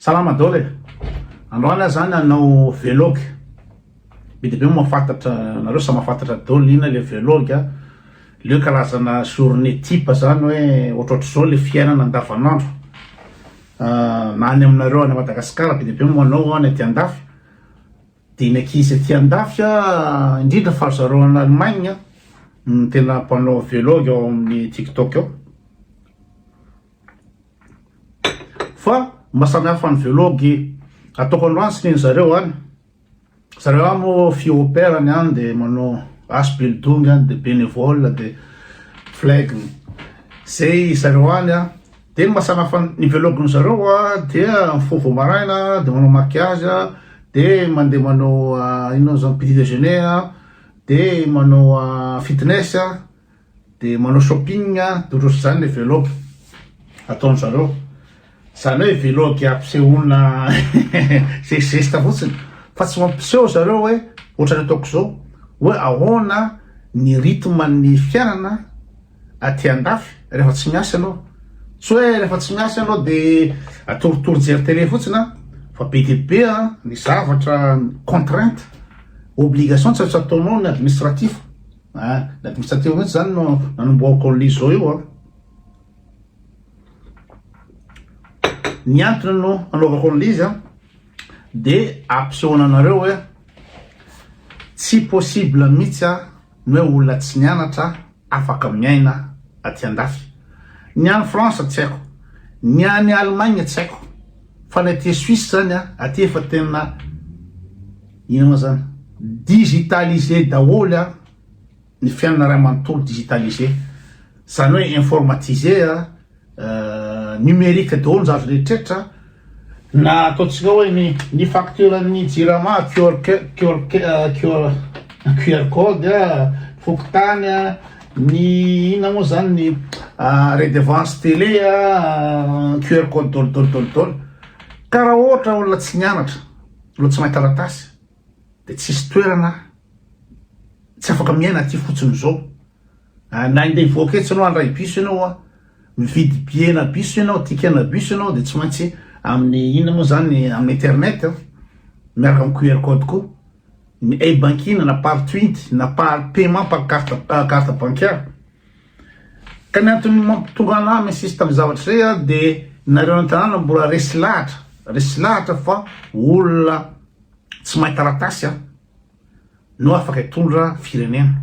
Salama Dol e! Androany aho zany hanao velogue, be dia be moa mahafantatra nareo samy mahafantatra Dol ina le velogue a, le hoe kalazana journée type zany hoe ohatrohatr'izao le fiainana andavanandro na any aminareo any Madagascar be dia be moa manao any aty andafy, de ny ankizy aty andafy a indrindra fa ry zareo any Allemagne no tena mpanao velogue ao amin'ny tiktok ao. Fa mba samy hafa ny velogy ataoko androany sy ny zareo any. Zareo any moa fiopera ny any dia manao as building any dia bénévole dia flag ny. Zay zareo any an. Dia ny mba samy hafa ny velogy zareo an dia mifoha vao maraina dia manao maquillage an dia mandeha manao inona moa izany petit déjeuner an dia manao fitness an. Dia manao shopping durusi zany le velog ataon zareo. Zany hoe velog ampisehoana ze zesta fotsiny fa tsy mampiseho zareo hoe ohatrany ataoko zao hoe ahoana ny rythme ny fiainana aty andafy rehefa tsy miasa ianao. Tsy hoe rehefa tsy miasa ianao dia atoritory jery tele fotsiny an fa be dia be an ny zavatra contrainte, obligation tsy maintsy ataonao ny administratif. Ah, ilay boritsa teo mihitsy zany no nanombohako ao Lizo io an. Ny antony no anaovako ao Lizy an, de ampisehoana anareo hoe tsy possible mihitsy an, ny hoe olona tsy nianatra afaka miaina aty andafy. Ny any France tsy haiko, ny any Allemagne tsy haiko, fa ny aty Suisse zany an, aty efa tena. Inona ma zany? Digitaliser daholo a, ny fiainana ray manontolo digitaliser, zany hoe informatiser a, numerique daholo ny zavatra rehetrretra, na ataontsika hoe ny ny facture ny jirama QR QR QR QR code a, fokontany a, ny inona moa zany ny redevance tele a, QR code daholo daholo daholo daholo, ka raha ohatra olona tsy nianatra no tsy mahay taratasy dia tsisy toerana tsy afaka miaina aty fotsiny izao ah, na indeha hivoaka etsy ianao handray biso ianao a ah. mividy biena biso ianao tikena biso ianao dia tsy maintsy amin'ny inona moa zany amin'ny internet ah. miaraka amin'ny QR code ko ny e-banking na par twint na par paiement par carte carte bancaire Ka ny antony mampitonga anah minsista am zavatra zay ah de nareo any tanàna mbola resy lahatra resy lahatra fa olona tsy mahay taratasy an no afaka hitondra firenena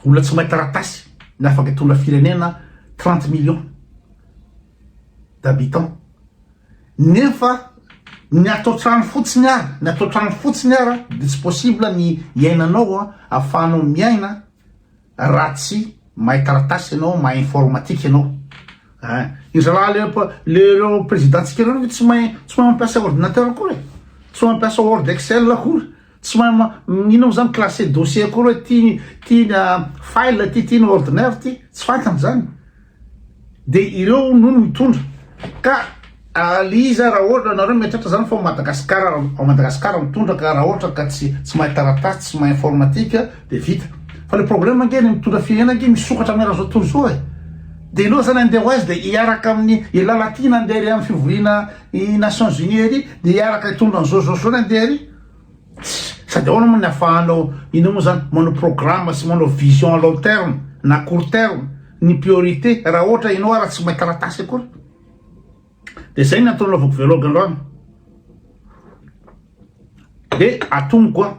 olona tsy mahay taratasy no afaka hitondra firenena trente millions d'habitants Nefa ny ato an-trano fotsiny ara, ny ato an-trano fotsiny ara dia tsy possible ny iainanao an, ahafahanao miaina raha tsy mahay taratasy ianao, mahay informatique ianao. Hein. Ry zalahy le pa- le ireo président-tsika ireo ve tsy mahay tsy mahay mampiasa ordinateur akory e? Tsy mahay mampiasa word excel akory. Tsy mahay ma inona moa zany classer dossier akory hoe ty ty ny file ty ty ny ordinaire ty tsy fantany zany de ireo no mitondra ka Aliza raha ohatra nareo miatratra zany fa Madagascar ao Madagascar mitondra ka raha ohatra ka tsy tsy mahay taratasy tsy mahay informatique de vita fa le problème ange ny mitondra firenena ange misokatra aminy raha tontolo zao e de ireo zany andeha ho aiza de hiaraka amin'ny elah latina andeha ery amin'ny fivoriana i Nations Unies ery de hiaraka hitondra an'izao zao zao ny andeha ery Sady ahoana moa ny afahanao inona moa zany manao programme sy manao vision à long terme na court terme ny priorité raha ohatra ianao ara tsy mahay taratasy akory de zay ny antony anaovako vlog androany de atomiko a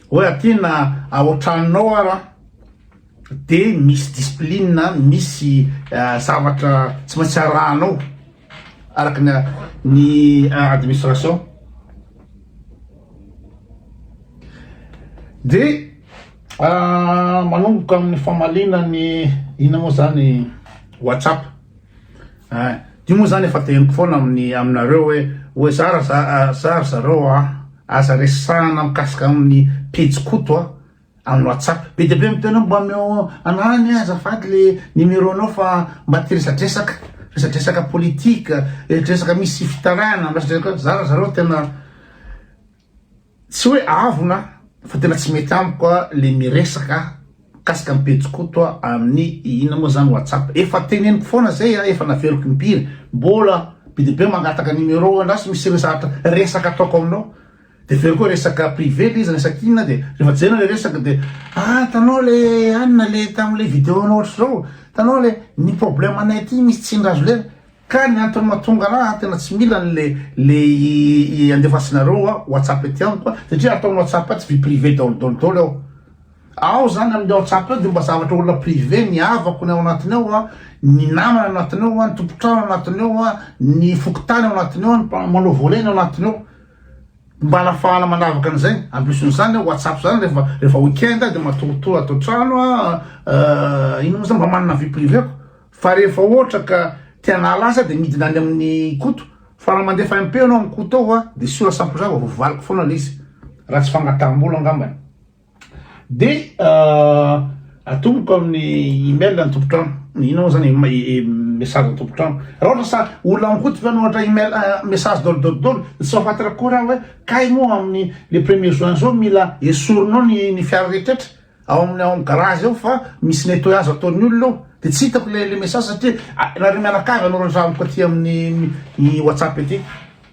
hoe aty na ao an-tranonao ara de misy discipline misy zavatra tsy maintsy arahanao araka ny ny administration de manomboka amin'ny famaliana ny ina moa zany whatsapp eh, io moa zany efa teniko foana amin'ny aminareo hoe hoe za za za zareo a aza resahana mikasika amin'ny pejy koto a Amin'ny WhatsApp. Be dia be miteny hoe mba omeo anarany aho azafady le numéro anao fa mba te resadresaka, resadresaka politique, resadresaka misy fitarana, resadresaka zara zareo tena tsy hoe avona fa tena tsy mety amiko le miresaka mikasika ny pejy koto a amin'ny inona moa zany WhatsApp. Efa teneniko foana zay a, efa naveriko impiry, mbola be dia be mangataka numéro anao sa misy resaka ataoko aminao, Dia avy eo koa resaka privé le izy resaka inona dia rehefa jerena le resaka dia ah hitanao le anona le tamin'ilay vidéo anao ohatr'izao hitanao le ny problème anay aty misy tsindry azo lera ka ny antony mahatonga anah ah tena tsy mila an'le le i andefasinareo ah whatsapp ety amiko ah satria atao ny whatsapp ah tsy vie privée daholo daholo daholo ao ao zany amin'ny whatsapp eo dia mba zavatra olona privé ny havako ny ao anatiny ao ah ny namana anatiny ao ah ny tompontrano anatiny ao ah ny fokontany ao anatiny ao ah ny mpanao volet ny ao anatiny ao Mba anafahana manavaka an'izay, ambiosony izany hoe WhatsApp izany rehefa rehefa week-end dia matoritory ato an-trano aho, eh, iny moa izany mba manana vie privée-ko, fa rehefa ohatra ka te hanala azy aho dia midina any amin'i Koto, fa raha mandefa MP ianao amin'i Koto ao an, dia sûr à cent pour cent fa voavaliko foana ilay izy, raha tsy fangataham-bola angambany. Dia atomoko amin'ny email ny tompon-trano, inona moa zany message ny tompon-trano. Raha ohatra sa olona mikoty ve no ohatra email message daholo daholo daholo, dia tsy mahafantra koa raha hoe kay moa amin'ny le premier juin zao mila esorinao ny ny fiara rehetrretra ao amin'ny ao amin'ny garage ao fa misy nettoyage ataon'ny olona ao, dia tsy hitako le le message satria ianareo mianakavy hanoratra amiko aty amin'ny whatsapp ety.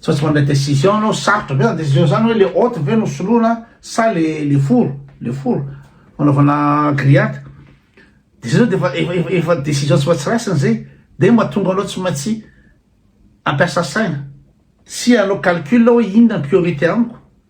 Sao tsy mandray décision anao, sarotra be zany décision zany hoe le hot ve no soloina sa le le four, le four fanaovana grillade. De zay zao de efa efa efa décision tsy maintsy raisina zay de mahatonga anao tsy maintsy hampiasa saina sy hanao calcul hoe inona ny priorité amiko.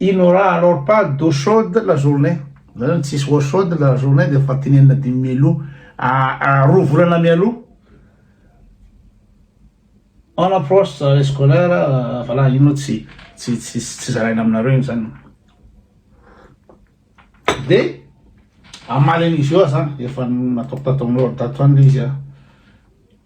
Il n'aura alors pas d'eau chaude la journée, zany hoe tsisy eau chaude la journée dia efa tenenina dimy mialoha, roa volana mialoha. On approche de l'année scolaire, voilà io moa tsy tsy tsy tsy zaraina aminareo iny zany. Dia hamaly an'izy io aho zany, efa nataoko tataon'olo tato any le izy an.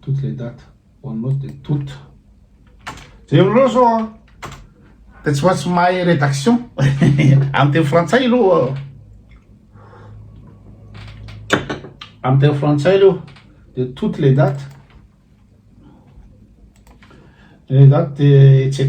Toutes les dates on note de toute. Jereo reo zao an, dia tsy maintsy mahay rédaction amin'ny teny frantsay aloha. Amin'ny teny frantsay aloha dia toutes les dates. Les dates dia etc.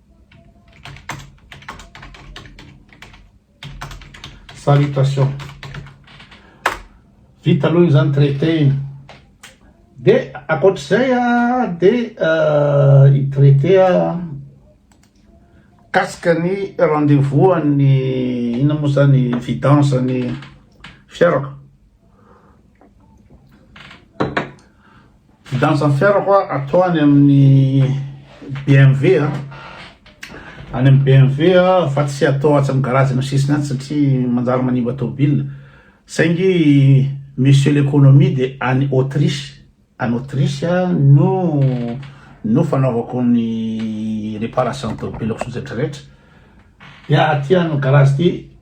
Salutation. Vita aloha izany traité iny. Dia ankoatr'izay dia i traité kasika ny rendez-vous an'ny inona moa izany vidange ny fiarako. Vidange ny fiarako a, ato any amin'ny BMW a, any amin'ny BMW a, fa tsy atao atsy amin'ny garage amin'ny sisiny atsy satria manjary manimba tôbila, saingy monsieur l'économie dia any Autriche, any Autriche a no no fanaovako ny réparation tôbilako sy ny retraretra, dia aty amin'ny garage ty.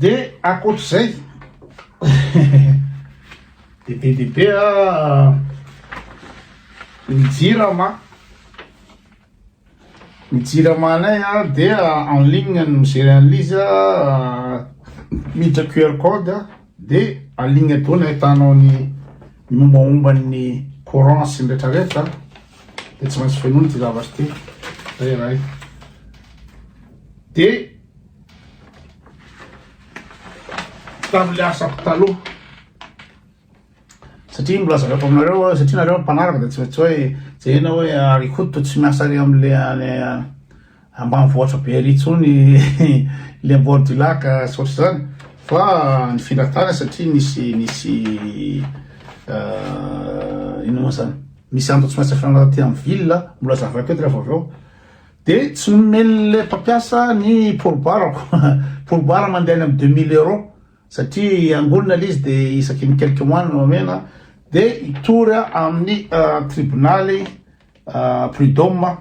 Dia ankoatr'izay, dia be dia be ny jirama, ny jiramanay dia en ligne no mi-gérer an'ilay izy, miditra QR code dia en ligne daholo no ahitanao ny mombamombany ny courant sy ny rehetra rehetra. dia tsy maintsy fenoina ity zavatra ity zay iray dia tamin'ilay asako taloha satria mbola zavako aminareo satria nareo mpanaraka dia tsy maintsy hoe jerena hoe arikoto tsy miasa ary amin'ilay ambanivohitra be ery intsony le bord du lac sy ohatr'izany fa nifindra tany satria nisy nisy ino moa zany misy antony tsy maintsy afenana aty amin'ny ville mbola zavaiko eto rehefa avy eo de tsy nomeny le mpampiasa ny porobarako porobara mandeha any amin'ny deux mille euros satria angonina le izy de isaky ny quelques mois no nomena de hitory aho amin'ny tribonaly Prud'homme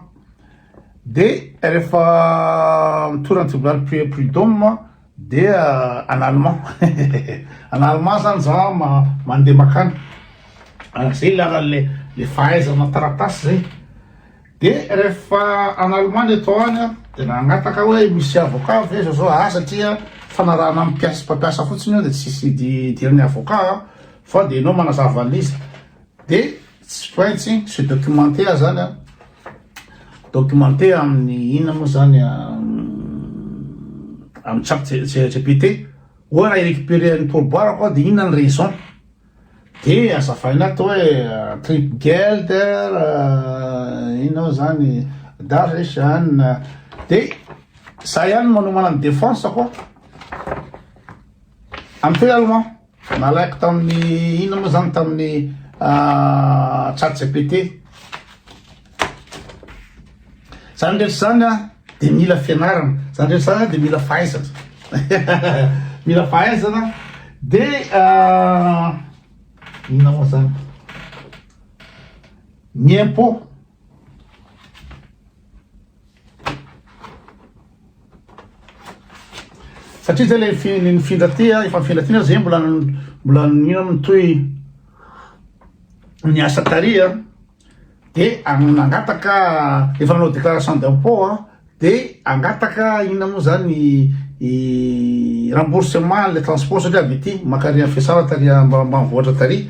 dia rehefa mitory an'i Tsibolalipy Prud'homme dia en allemand en allemand zany za mandeha makany zay ilana le fahaizana taratasy zay dia rehefa en allemand le tao any dia nangataka aho hoe misy avocat ve zao zao ah satria fanarahana amin'ny mpiasa mpampiasa fotsiny io dia tsisy idiran'ny avocat fa dia enao manazava an'izy dia Tsy pointsy, c'est documentaire zany an, documentaire amin'ny inona moa zany amin'ny chat GPT, oa raha hi-recuperer ny pourboire ko de inona ny raison, de azavaina ato hoe trip gelder inona moa zany darresan de za ihany no manomana ny defense ko, amin'ny tena aloha. Nalaiko tamin'ny inona moa zany tamin'ny ah, chat GPT. Zany rehetra zany a dia mila fianarana, zany rehetra zany a dia mila fahaizana. mila fahaizana dia ah, inona moa zany? Ny impôt satria zay le fi- ny mifindra ty a, efa mifindra ty na zay mbola mbola ino amin'ny toy ny asa tary a de an- nangataka efa nanao déclaration d'impôt a de angataka inona moa zany i- i remboursement le transport satria avy aty maka ary fiasara tary ambanivohitra tary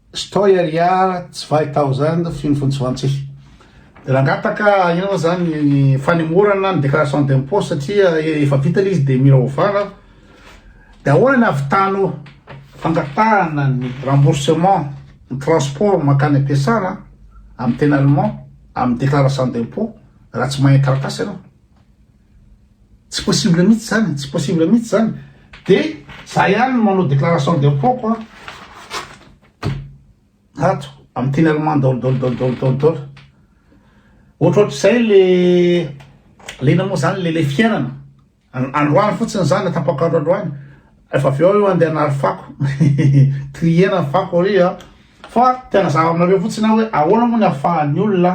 Stoy ary ah tsy vahy tao zany de feno fony tsy vantsihy de nangataka ino moa zany ny fanemorana ny déclaration d'impôt satria efa vita le izy de mila ovana de ahoana ny avitanao fangatahana ny remboursement ny transport mankany am-piasana amin'ny teny allemand amin'ny déclaration d'impôt raha tsy mahay ny taratasy ianao Tsy possible mihitsy zany, tsy possible mihitsy zany. De za ihany no manao déclaration d'impôt-ko an. Ato, amin'ny teny allemand daholo daholo daholo daholo daholo daholo. Ohatrohatr'izay le le inona moa zany le le fiainana. An- androany fotsiny za na tapak'andro androany, rehefa avy eo io andeha hanary fako. Trier-na ny fako ary an. Fa te hanazava aminareo fotsiny aho hoe ahoana moa ny ahafahan'ny olona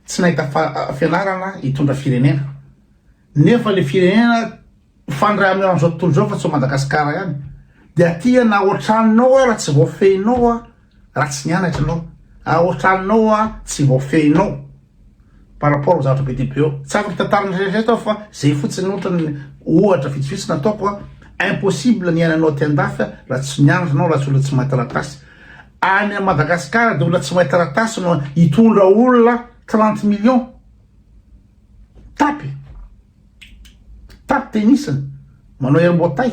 Tsy nahita fianarana hitondra firenena nefa le firenena fandray amin'io andro zao tontolo zao fa tsy ao Madagascar ihany de aty na ao an-tranonao ara tsy voafehinao a raha tsy nianatra ianao ao an-tranonao a tsy voafehinao par rapport ho zavatra be dia be ao tsy afaka hitantarana rehetrarehetra aho fa zay fotsiny ohatra ny ohatra vitsivitsy nataoko a impossible ny iainanao aty an-dafy a raha tsy nianatra ianao raha tsy olona tsy mahay taratasy Any a Madagascar de olona tsy mahay taratasy no hitondra olona trente millions tapy tapy tenisany manao herboatay.